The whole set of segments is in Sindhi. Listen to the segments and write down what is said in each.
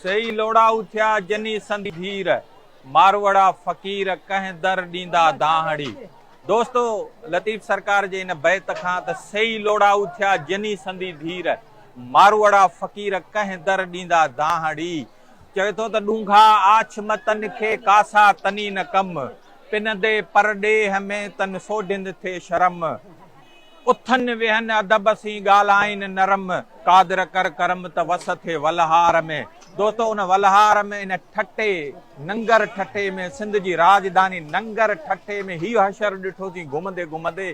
سيئي لوڙائو ٿيا جني سندي ڀير، ماروئڙا فقير ڪنهن در ڏيندا دانهڙي. دوستو لطيف سرڪار جي ان بيت کان ته سيئي لوڙائو ٿيا جني سندي ڀير، ماروئڙا فقير ڪنهن در ڏيندا دانهڙي. چوي ٿو ته ڏونگها آڇ م تن کي ڪاسا تني نه ڪم، پنندي پر ڏيهه ۾ تن سوڍند ٿي شرم. اٿن ويهن ادب سين ڳالهائين نرم، قادر ڪر ڪرم ته وس ٿئي ولهار ۾. دوستو ان ولهار ۾ ان ٺٽي، ننگر ٺٽي ۾ سنڌ جي راڄڌاني ننگر ٺٽي ۾ هي حشر ڏٺوسين گهمندي گهمندي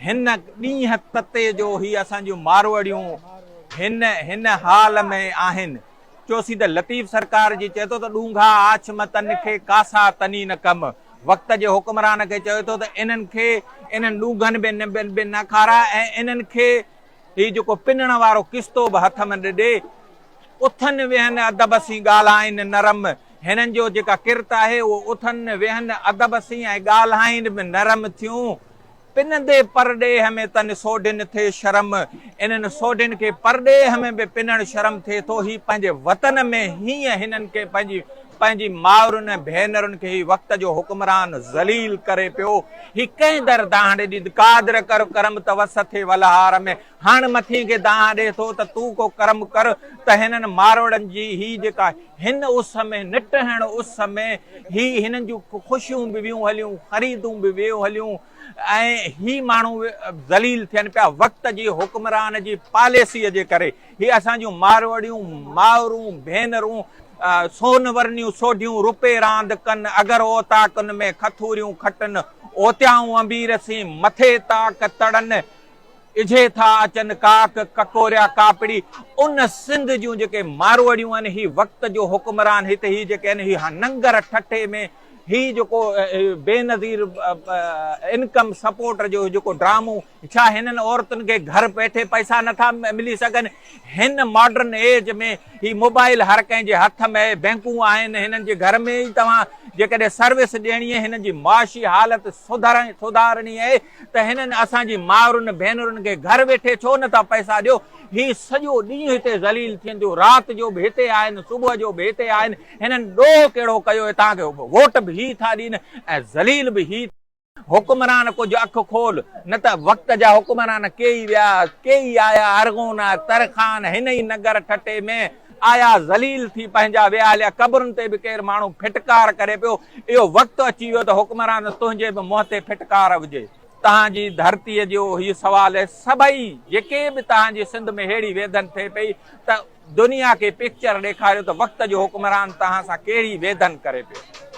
هن ڏينهن تتي جو هي اسان جون ماروئڙيون هن هن حال ۾ آهن. چوسين ته لطيف سرڪار جي چئي ٿو ته ڏونگها آڇ م تن کي ڪاسا تني نه ڪم وقت جي حڪمران کي چئي ٿو ته انهن کي انهن ڏونگهن به نه به به نه کارا ۽ انهن کي هي جيڪو پنڻ وارو ڪستو به هٿ م نه ڏي اٿن ويهن ادب سين ڳالهائين نرم هنن جو جيڪا ڪرت آهي اهو اٿن ويهن ادب سين ۽ ڳالهائين به نرم ٿيون پنندي پرڏيهه ۾ تن سوڍين ٿئي شرم. انهن سوڍين کي پرڏيهه ۾ به پنڻ شرم ٿئي ٿو. هي پنهنجي وطن ۾ هيئن هنن کي پنهنجي پنهنجي مائرن ۽ ڀينرن کي هي وقت جو حڪمران ذليل ڪري پيو. هي ڪنهن در دانهڙي ڏيد قادر ڪر ڪرم ته وس ٿئي ولهار ۾. هاڻ مٿين کي دانهن ڏي ٿو ته تون ڪو ڪرم ڪر ته هنن ماروئڙن جي هي جيڪا هن اس ۾ نٽهڻ اس ۾ هي هنن جون خوشيون به ويون هليون خريدون به ويون هليون ۽ هي ماڻهو ذليل ٿين پيا وقت جي حڪمران جي پاليسيء جي ڪري هي اسان جون ماروئڙيون مائرون ڀينرون سون ورنيون سوڍيون روپي راند ڪن اگر اوطاقن ۾ کٿوريون کٽن اوتيائون انبير سين مٿي طاق تڙن اجهي ٿا اچن ڪاڪ ڪڪوريا ڪاپڙي ان سنڌ جون جيڪي ماروئڙيون آهن هي وقت جو حڪمران هت هي جيڪي آهن هي ننگر ٺٽي ۾ هي جيڪو بينظير انڪم سپورٽ جو جيڪو ڊرامو ڇا هنن عورتن کي گهر ويٺي پئسا نٿا ملي سگهن هن ماڊرن ايج ۾ هي موبائل هر ڪنهن جي هٿ ۾ بينڪون آهن هنن جي گهر ۾ ئي توهان جيڪڏهن سروس ڏيڻي هنن جي معاشي حالت سڌارڻي آهي ته هنن اسان جي مائرن ڀينرن کي گهر ويٺي ڇو نه ٿا پئسا ڏيو. هي سڄو ڏينهن هتي ذليل ٿين ٿيون، رات جو به هتي آهن، صبح جو به هتي آهن، هنن ڏوهه ڪهڙو ڪيو اهي تان کي ووٽ به هي ٿا ڏين ۽ ذليل به هي. حڪمران ڪجهه اک کول، نه ته وقت جا حڪمران ڪيئي ويا، ڪيئي آيا، ارغون، ترخان، هن ئي نگر ٺٽي ۾ آيا ذليل ٿي پنهنجا ويهاليا قبرن تي به ڪير ماڻهو ڦٽڪار ڪري پيو اهو وقت اچي ويو ته حڪمران تنهنجي به منهن تي ڦٽڪار هجي. تهان جي ڌرتيء جو هي سوال هي سڀئي جيڪي به تهان جي سنڌ ۾ ههڙي ويڌن ٿئي پئي ته دنيا کي پڪچر ڏيکاريو ته وقت جو حڪمران تهان سان ڪهڙي ويڌن ڪري پيو.